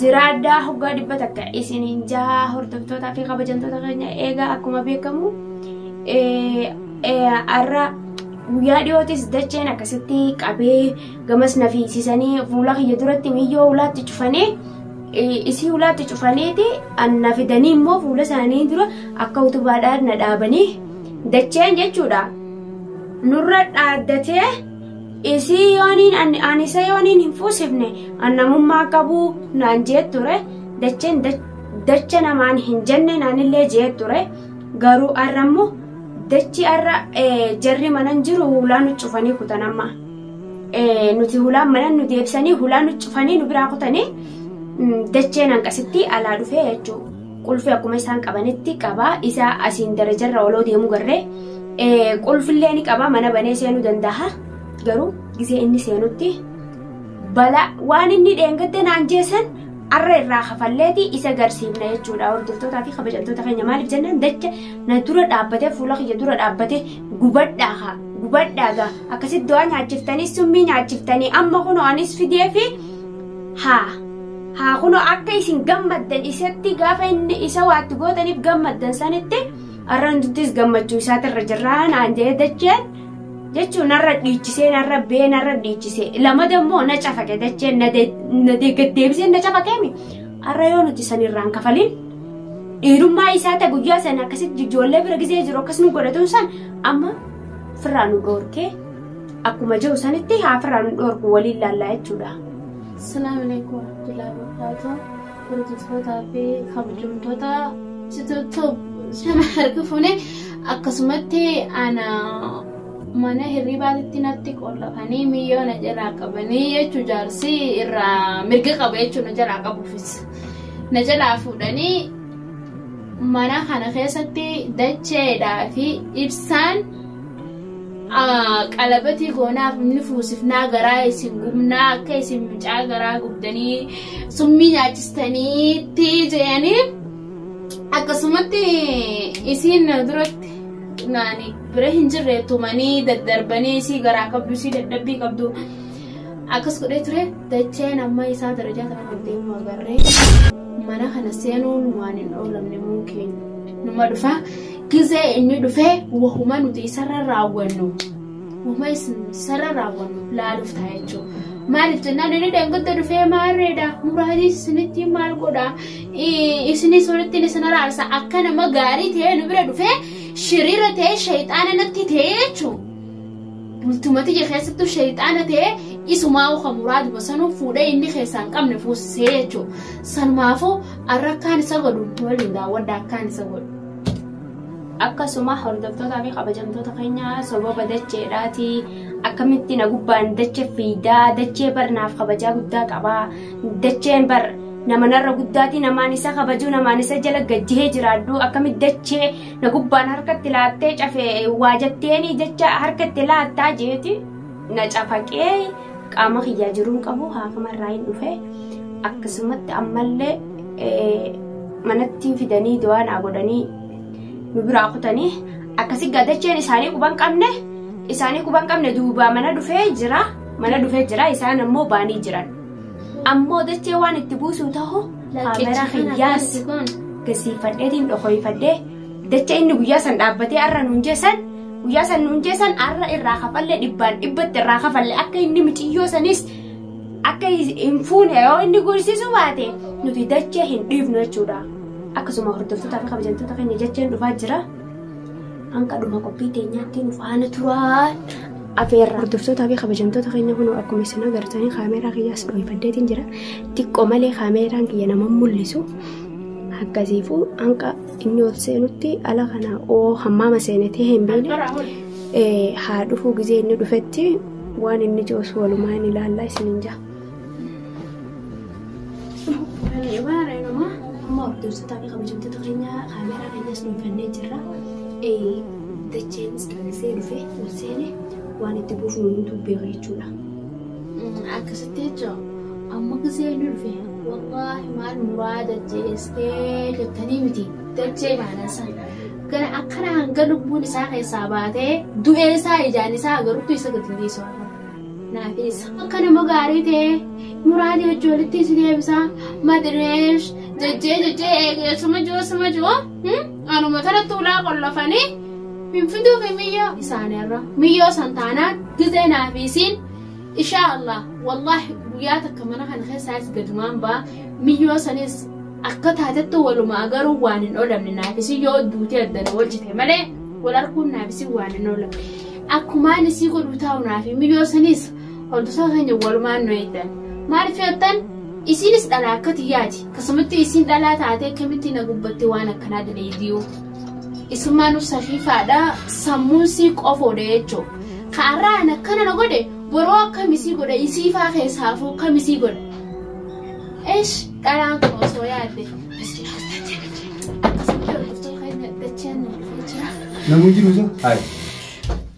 Jiraadhaa hoggaa dhibba takka isiniin jahaa hordoftootaa fi kabajamtoota keenya eegaa akkuma beekamu har'a guyyaa dhiyootis dacheen akkasitti qabee gamas na fiigsisanii fuula kiyya duratti miyyoo ulaatti cufanee isii ulaatti cufaneeti anna fidanii immoo fuula isaanii dura akka utubaadhaan na dhaabanii dacheen jechuudha nurra dhaaddatee Isii yooniin an- an isa yooniin hin fuusifne an namummaa qabu naan jee ture dacheen dach- dacha namaan hin jenne naanillee jee ture garuu arra immoo dachi arra eh, jarri manan jiru hulaa nu cufanii kutan amma Eh, nuti hulaan manan nu deebisanii hulaa nu cufanii nu biraa kutanii mm, dacheen hanqasittii alaa dhufee jechuudha. qulfi akkuma isaan qabanitti qaba isa asiin darajarra oloo deemu garre qulfillee ni qaba mana banee seenuu danda'a garuu gisee inni seenutti bala waan inni dheengadde naan jeesan arra irraa kafalleeti isa garsiifna jechuudha hordoftootaa fi kabajamtoota keenya maaliif jennaan dacha na dura dhaabbatee fuula kiyya dura dhaabbatee gubadhaa haa gubadhaa gaa akkasitti du'aa nyaachiftanii summii nyaachiftanii amma kunoo anis fidee fi haa haa kunoo akka isin gammaddan isatti gaafa inni isa waatti gootaniif gammaddan sanitti har'a nuttis gammachuu isaati irra jirraa naan jedhee dacheen jechuun narra dhiichisee narra bee narra dhiichisee lama dammoo na cafaqe dacheen na deeggaddeebisee na cafaqeemi har'a yoo nuti sanirraan kafaliin dhiirummaa isaa ta'e guyyaa sana akkasitti ijoollee bira gizee jiru akkas nu godhatuun san amma firraa nu dhoorkee Akkuma jiru sanitti haafirraa nu dhoorku waliin laallaa jechuudha. Salaamu alaikum warahmatullahi wabarakatuh. Hordoftoota fi kabajamtoota sitootoo sana harka fuune akkasumatti ana mana hirribaatitti natti qollafanii miyyoo na jalaa qabanii jechuu jaarsi irraa mirga qaba jechuu na jalaa qabuufis. Na jalaa fuudhanii mana kana keessatti dacheedhaa fi ibsaan qalabatii goonaaf ni fuusifnaa garaa isin gubnaa akka isin mucaa garaa gubdanii summii nyaachistaniitti jedhanii akkasumatti isiin na duratti naani bira hin jirre tumanii daddarbanii isii garaa qabdu isii dadhabbii qabdu akkas godhee ture dacheen amma isaa darajaa kana kan deemu agarree mana kana seenuun waan hin oolamne muu keenya numa dhufaa Gizee inni dhufee wahuma nuti isarra raawwannu wahuma isarra raawwannu laaluuf ta'a jechuudha. Maaliif jennaan inni dheengadda dhufee maarreedha muraatiis isinitti maal godha isinis walitti isin araarsa akka nama gaarii ta'ee nu bira dhufee shiriira ta'ee shayxaana natti ta'ee jechuudha. Bultumati je keessattuu shayxaana ta'ee isumaa uka muraad basanuu fuudhee inni keessaa hin qabne fuusisee jechuudha. Sanumaafuu arra akkaan isa godhu waliin daawwadha akkaan isa godhu. akkasuma hordoftootaa fi kabajamtoota keenya sababa dacheedhaati akkamitti na gubbaan dache fiidaa dachee bar naaf kabajaa guddaa qaba dacheen bar nama narra guddaati namaan isa kabajuu namaan isa jala gajjihee jiraadhu akkamitti dachee na gubbaan harkatti laattee cafee waa jetteeni dacha harkatti laattaa jeeti. na cafaqee qaama kiyyaa jiruun qabu haakama irraa hin dhufe akkasumatti ammallee manatti fidanii du'aa naa godhanii nu biraa kutanii akkasi gadacheen isaanii quban qabne isaanii quban qabne duubaa mana dhufee jira mana dhufee jira isaan ammoo baanii jiran ammoo dachee waan itti buusuu tahu kaameraa kiyyaas gasiifadheetiin dhokoyfadhee Dacha inni guyyaa san dhaabbatee har'a nuun jeessan guyyaa san nuun jeessan har'a irraa kafalle dhibbaan dhibbatti irraa kafalle akka inni miciyyoo sanis akka hin fuune yoo inni gorsisuu baate nuti dachee hin dhiifnu jechuudha. Akkasuma hordoftootaa fi kabajamtoota keenya jecheen dhufaa jira. Hanga dhuma qophii teenyaatti nu faana turaa. Afeerra. Hordoftootaa fi kabajamtoota keenya kun akkuma isin agartanii kaameeraa kiyyaas dhooyfaddeetiin jira. Xiqqoo malee kaameeraan kiyya nama mul'isu. Akkasiifuu hanga Inni ol seenutti ala kana oo hammaama seenetee hin beekne eh, haa dhufuu gizee inni dhufetti waan inni jiruus walumaa hin ilaallaa isin hin jaa. Amma hordoftoota fi kabajamtoota keenya kaameeraa keenyas dhuunfannee jirra. Eh, Dacheenis callisee dhufee ol seene waan itti buufnu nutu beeka jechuudha. Akkasitti jechuun amma gisee inni dhufe wallaahi maal muraa dachee ee jettanii miti dachee ilaalan san gara akkana hanga lubbuun isaa keessaa baatee du'ee isaa ijaan isaa agarutti isa gadi dhiisu naafin isa akka nama gaarii ta'ee muraadii hojii walitti si deebisaa madireesh jajjee jajjee eegee suma jiru suma jiru anuma taratti ulaa qollofanii hin fiduu fi miyyoo isaaniirra miyyoo san taanaan gizee naafisiin Ishaa Allah wallahi guyyaa takka mana kana keessaas gadumaan ba'a miyyoo sanis akka taatetti walumaa garuu waan hin oolamne naafisi yoo duutee addana wal cite malee wal arguun naafisi waan hin oolamne akkumaan isii godhu taa'u naafi miyyoo sanis hordofaa keenya walumaan nu eegdan maaliif jettan isiinis dhalaa akka tiyyaati akkasumatti isiin dhalaa taatee akkamitti na gubbatte waan akkanaa daleediyuu. Isummaanu safiifaadha sammuun sii qofoodha jechuu ka arraa an akkana na godhe boroo akkam isii godha isiifaa keessaafuu kam isii godha esh dhalaan kun osoo yaadde Namu jiru sa? Hai.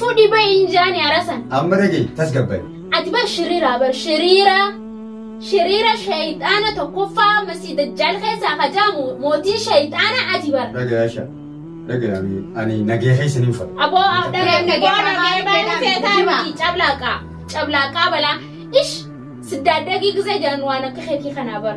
Fudhi bayi hin jaani arasan. Amma dhagaye tasgabbaye. Ati bar shiriira bar shiriira. Shiriira shayxaana tokkoffaa masii dajjaal keessaa hajaamu mootii shayxaana ati bar. Dhagaya sha. Dhagaya ani nagee keessa ni uffata. Aboo dhagaya dhagaya baay'ee feetaa miti cablaaqaa cablaaqaa balaa ish siddaadagii gisee jaan waan akka keetii kanaa bar.